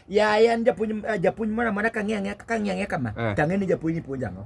Yayan japuonj ah, japuonj moro amora ka ng'iyo ang'iya kaka ng'iyo ang'iya kama Eh. tang'e ni japuonj ni puonjo ang'o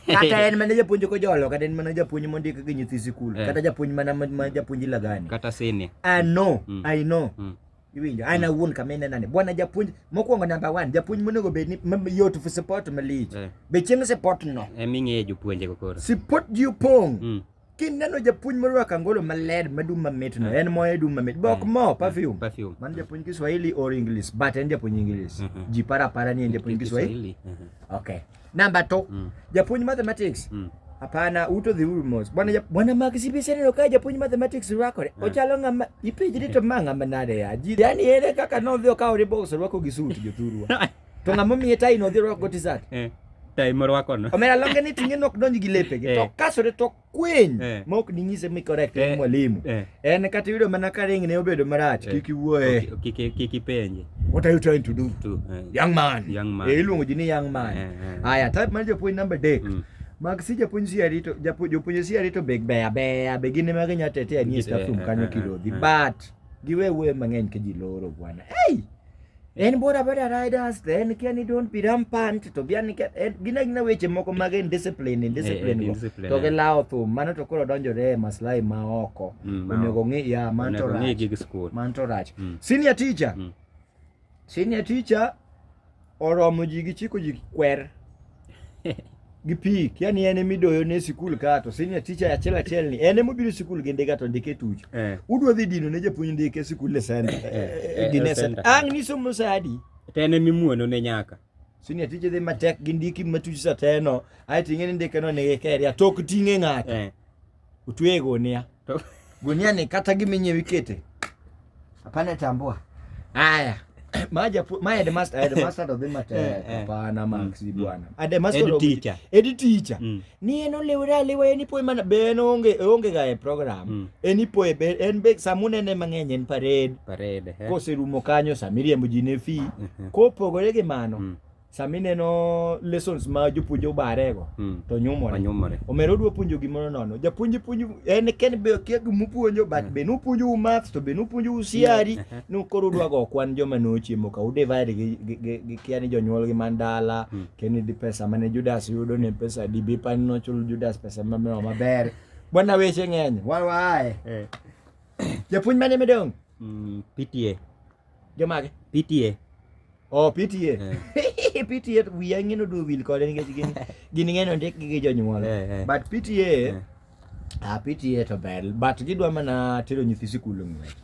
kata en mana japuonj kojolo kata en mana japuonj mondik gi nyithi sikul Eh. kata japuonj mana ma ma japuonj ilagani kata sini I know Mm. I know Mm. iwinjo an awuon kama inena ni bwana japuonj mokwongo number one japuonj monego bed ni ma- yot for support malich Eh. be chieng support no eming'eye jopuonjego koro support ji opong' Mm. kineno japuonj morwako angolo maler madum mamit no eh. en moye dum mamit bok eh. mo eh. perfume perfume man japuonj Kiswahili or English but en japuonj English mm-hmm. ji para para ni en japuonj Kiswahili mm-hmm. okay number 2 mm. japuonj mathematics mm. Hapana, uto the rumors. Bwana bwana Mark CBC ndio kaja punya mathematics wako. Yeah. Ochalo ngama ipe jiri to manga manade ya. Jiri yani ele kaka no thio ka ore box wako gisuti jothurwa. To ng'ama omiye tai no odhi rwako go tisat. Eh. Tai morwako no. Omera longe ni tinge nok donji gi lepe gi. Eh. To kasore to kweny eh. ma ok ding'ise mi correct eh. mwalimu. Eh. En kata yudo mana ka ring ne obedo marach eh. kik iwuoye. Kik kik ipenje. What are you trying to do? To, eh. Young man. Young man. Eh, iluongo ji ni young man. Eh, eh. Aya, type mar japuonj number 3. Mm. Mag si japuonj si arito japuonj jopuonj si arito big beya beya be gin ma ginya tete ani staff room kanyo kirodhi but giwe wuoyo mang'eny ka ji loro bwana. Hey! En bora bora riders then can you don't be rampant to be an eh, gina gina weche moko mag in discipline in eh, discipline eh, discipline to gilawo thum mano to koro donjore e maslahi ma oko mm, onego ng'i ya man to rach gig school man to rach mm. senior teacher mm. senior teacher oromo ji gi chiko ji kwer gi pi kia ni en emidoyo ne sikul ka to senior teacher achiel achiel ni en emobiro sikul gi ndiga to ndike tuch eh. udwa dhi dino ne japuonj ndike sikul le send eh, eh, gi ne send ang ni somo sadi to en emimuono ne nyaka senior teacher dhi matek gi ndiki matuch sateno ae ting'e ni ndike no nigi keria tok ting'e ng'ato Utweye gunia. To gunia ni kata giminye wikete. Hapana tambua. Haya. Maja pu, my headmaster, headmaster of the matter. Eh, eh. Hapana Max mm, mm. bwana. Headmaster of the teacher. Head teacher. Mm. Ni eno lewra lewa eni poe mana be no onge onge ga e program. Mm. Eni poe be en be samune ne mang'eny en parade. Parade. Eh. Kose rumo kanyo samiriembo ji ne fi. Kopogore gi mano. Mm. sama ineno lessons ma jopuonj obarego mm. to nyumore nyumore omera odwa puonjo gimoro nono japuonj puonj en ken be kia gima puonjo but mm. be nupuonjo u math to be nupuonjo u siari mm. nu koro udwa go kwan joma nochiemo ka udivide gi, gi, gi, gi kia ni jonyuolgi man dala mm. keni di pesa mane Judas yudo ni pesa di bi pan nochulo Judas pesa ma mama maber bwana weche ng'eny wan waaye eh. japuonj mane medong mm, PTA Jomage? PTA. Oh, PTA. Eh. PTA wiya ng'ino do wil kode nikech gin gin ng'eno ndik gi jonyuol. Eh, eh. But PTA eh. ah, PTA to ber but gidwa mana tero nyithi sikul ng'wech.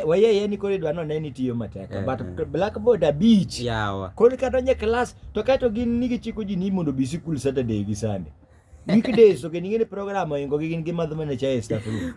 wayeye ni koro idwa none ni tiyo matek eh, but eh. blackboard abich yawa koro kata onye klas to kae to gin nigi chiko ji ni mondo bi sikul saturday gi sunday weekdays to gin ing'e ni program oingo gi gin gi madh mana chae staff room